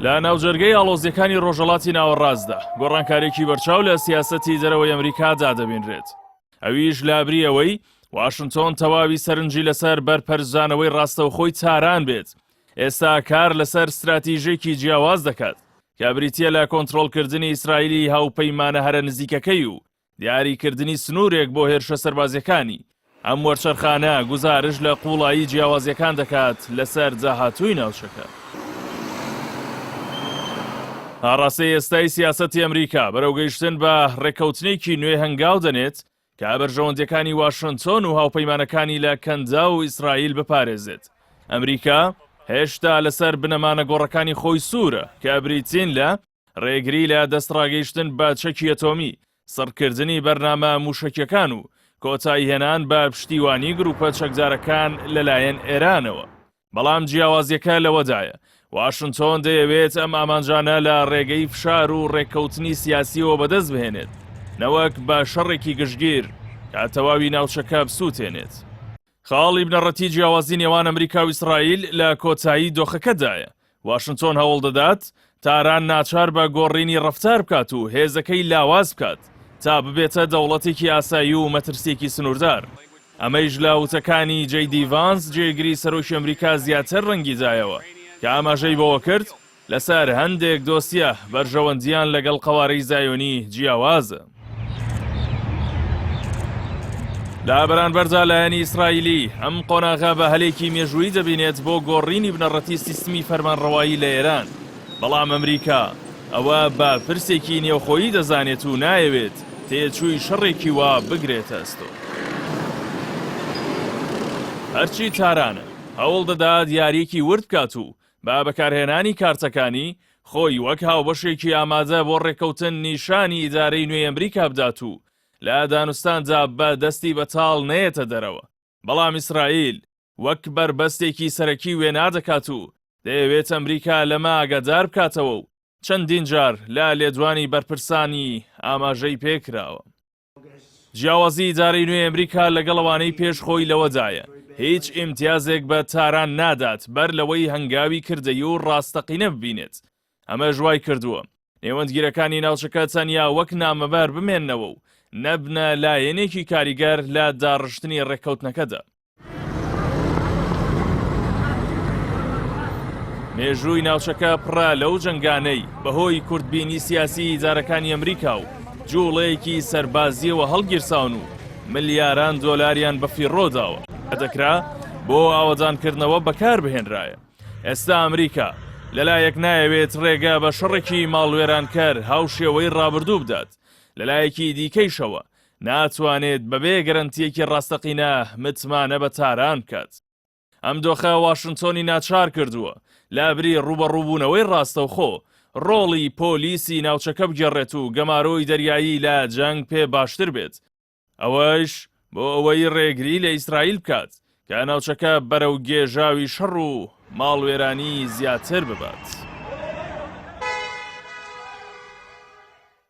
لە ناوجەرگەی ئاڵۆزیەکانی ڕۆژەڵاتی ناوەڕاستدا گۆڕانکارێکی بەرچاو لە سیاستی دەرەوەی ئەمریکادا دەبینرێت ئەویش لابریەوەی واشنتۆن تەواوی سەرنجی لەسەر بەرپەرزانەوەی ڕاستەوخۆی تاران بێت ئێستا کار لەسەر استراتیژێکی جیاواز دەکات کە بریتە لە کۆنتترۆلکردنی ئیسرائیلی هاوپەیمانە هەرە نزیکەکەی و دیاریکردنی سنوورێک بۆ هێرشە سەربازییەکانی، ئەم وەرچەرخانە گوزارش لە قووڵایی جیاوازییەکان دەکات لەسەر داهاتووی ناوچەکە. هەڕەسەی ئێستای سیاسەتی ئەمریکا بەرەو گەیشتن بە ڕێککەوتنێکی نوێ هەنگاو دەنێت کە بەرژەوەندیەکانی واشنتۆن و هاوپەیمانەکانی لە کەنداو و ئیسرائیل بپارێزێت. ئەمریکا هێشتا لەسەر بنەما نەگۆڕەکانی خۆی سوورە کە بریتین لە، ڕێگری لە دەستڕاگەیشتن بە چەکی ئەتۆمی، سڕکردنی بەرنامە مووشەکییەکان و کۆتاییهێنان بە پشتیوانیی گرووپە چەکدارەکان لەلایەن ئێرانەوە. بەڵام جیاوازییەکە لەوەدایە، واشنتۆن دەیەوێت ئەم ئامانجانە لە ڕێگەی فشار و ڕێککەوتنی سیاسییەوە بەدەست بهێنێت، نەوەک بە شەڕێکی گشتگیر کە تەواوی ناوچەکە بسووتێنێت. خاڵی بنەڕەتیی جیاوازی نێوان ئەمریکا و ئیسرائیل لە کۆتایی دۆخەکەدایە. واشنتۆن هەوڵ دەدات تاران ناچار بە گۆڕینی ڕەفتار بکات و هێزەکەی لاواز بکات تا ببێتە دەوڵەتێکی ئاسایی و مەترسییەکی سنووردار. ئەمەیش لە وتەکانی جەی دی ڤانس، جێگری سەرۆکی ئەمریکا زیاتر ڕەنگی دایەوە، کە ئاماژەی بەوە کرد، لەسەر هەندێک دۆسیە بەرژەوەندییان لەگەڵ قەوارەی زایۆنی جیاوازە. لە بەرانبەردا لایەنی ئیسرائیلی ئەم قۆناغە بە هەلێکی مێژوویی دەبینێت بۆ گۆڕینی بنەڕەتی سیستمی فەرمانڕەوایی لە ئێران، بەڵام ئەمریکا ئەوە بە پرسێکی نێوخۆیی دەزانێت و نایەوێت تێچووی شەڕێکی وا بگرێتە ئەستۆ. هەرچی تاران هەوڵ دەدات یارییەکی ورد بکات و بە بەکارهێنانی کارتەکانی، خۆی وەک هاوبەشێکی ئامادە بۆ ڕێککەوتن نیشانی ئیدارەی نوێی ئەمریکا بدات و لە دانوستاندا بە دەستی بەتاڵ نەیەتە دەرەوە، بەڵام ئیسرائیل وەک بەربەستێکی سەرەکی وێنا دەکات و دەیەوێت ئەمریکا لەمە ئاگادار بکاتەوە و چەندین جار لە لێدوانی بەرپرسانی ئاماژەی پێکراوە. جیاوازی ئیدارەی نوێی ئەمریکا لەگەڵ ئەوانەی پێش خۆی لەوەدایە هیچ ئیمتیازێک بە تاران نادات بەر لەوەی هەنگاوی کردەیی و ڕاستەقینە ببینێت ئەمەش وای کردووە نێوەندگیرەکانی ناوچەکە تەنیا وەک نامەبار بمێنەوە و نەبنە لایەنێکی کاریگەر لە داڕشتنی ڕێککەوتنەکەدا مێژووی ناوچەکە پڕە لەو جنگانەی بەهۆی کوردبینی سیاسی ئیدارەکانی ئەمریکا و جوڵەیەکی سەربازیەوە هەڵگیرساون و ملیاران دۆلاریان بە فیڕۆداوە دەکرا بۆ ئاوەدانکردنەوە بەکار بهێنرایە ئێستا ئەمریکا لەلایەک نایەوێت ڕێگە بە شەڕێکی ماڵوێرانکەر هاوشێوەی ڕابردوو بدات لەلایەکی دیکەیشەوە ناتوانێت بەبێ گەرەنتییەکی ڕاستەقینە متمانە بە تاران بکات. ئەم دۆخە واشنتۆنی ناچار کردووە لابری ڕووبەڕووبوونەوەی ڕاستەوخۆ، ڕۆڵی پۆلیسی ناوچەکە بگێڕێت و گەمارۆی دەریایی لە جەنگ پێ باشتر بێت، ئەوەش بۆ ئەوەی ڕێگری لە ئیسرائیل بکات کە ناوچەکە بەرەو گێژاوی شەڕ و ماڵوێرانی زیاتر ببات.